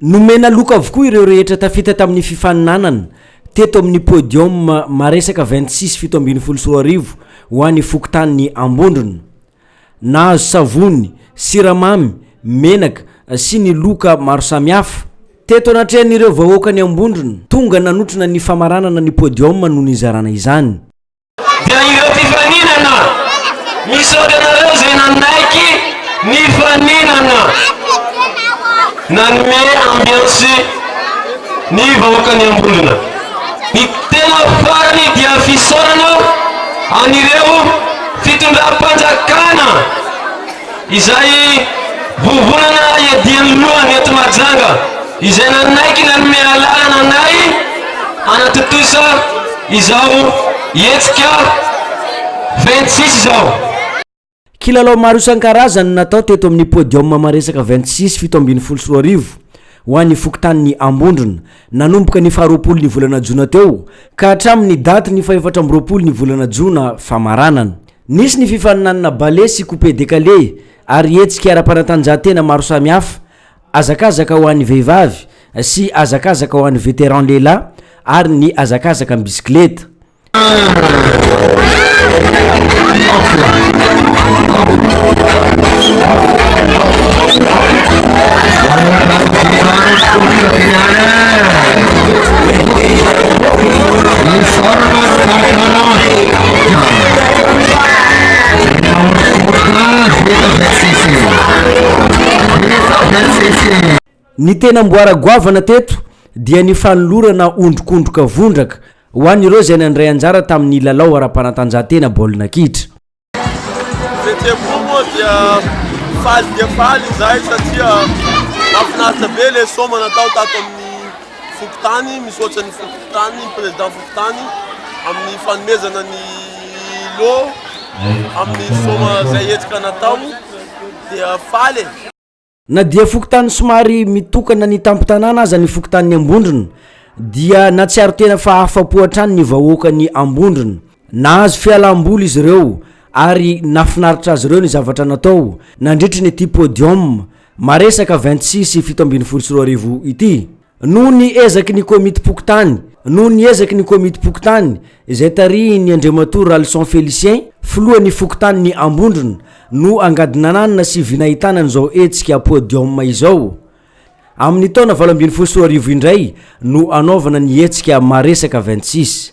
Nomena loka avokoa ireo rehetra tafita tamin'ny fifaninanana teto amin'ny podium maresaka vingt six fito ambin'ny folo sy roa arivo ho an'ny fokontanin'i Ambondrona. Nahazo savony, siramamy, menaka sy ny loka maro samihafa. Teto anatrehan'ireo vahoakan'i Ambondrona, tonga nanotrona ny famaranana ny podium no nizarana izany. dia ireo mpifaninana misaotra anareo izay nanaiky nifaninana nanome ambiansy ny vahoakan'ny Ambolona ny tena farany dia fisaorana an'ireo fitondram-panjakana izay vovonana iadian'ny lohany eto Mahajanga, izay nanaiky nanome alalana anay hanatontosa izao hetsika vingt-six izao. Kilalao maro isan-karazany no natao teto amin'ny podium maresaka vingt-six fito ambin'ny folo sy roa arivo ho an'ny fokontanin'i Ambondrona, nanomboka ny faharoapolo ny volana jona teo ka hatramin'ny daty ny fahefatra amby roapolo ny volana jona famaranana. Nisy ny fifaninanana ballet sy coupe décalé ary hetsika ara-panatanjahantena maro samihafa, hazakazaka ho an'ny vehivavy sy hazakazaka ho an'ny vétéran lehilahy ary ny hazakazaka am-bisikileta. Ny tena amboara goavana teto dia ny fanolorana ondrikondroka vondraka ho an'ireo izay nandray anjara tamin'ny lalao ara-panatanjahantena baolina kitra. Fihetsem-po moa dia faly dia faly izahay satria mahafinaritra be ilay sôma natao tato amin'ny. Fokontany, Misaotra ny fokontany, ny Président fokontany amin'ny fanomezana ny lot amin'ny soma izay hetsika natao dia faly e! Na dia fokontany somary mitokana ny tampon-tanàna aza ny fokontanin'i Ambondrona dia natsiaro tena fa afa-po hatrany ny vahoakan'i Ambondrona. Nahazo fialam-boly izy ireo ary nahafinaritra azy ireo ny zavatra natao nandritry ny ity podium Maresaka vingt six sy fito ambin'ny folo sy roa arivo ity. Noho ny ezaky ny komitim-pokontany Noho ny ezaky ny komitim-pokontany izay tarihin'ny Andriamatoa Ralison Félicien, filohan'ny fokontanin'i Ambondrona, no angadinananina sy vinahitana an'izao hetsika podium izao. Amin'ny taona valo ambin'ny folo sy roa arivo indray no hanaovana ny hetsika Maresaka vingt six.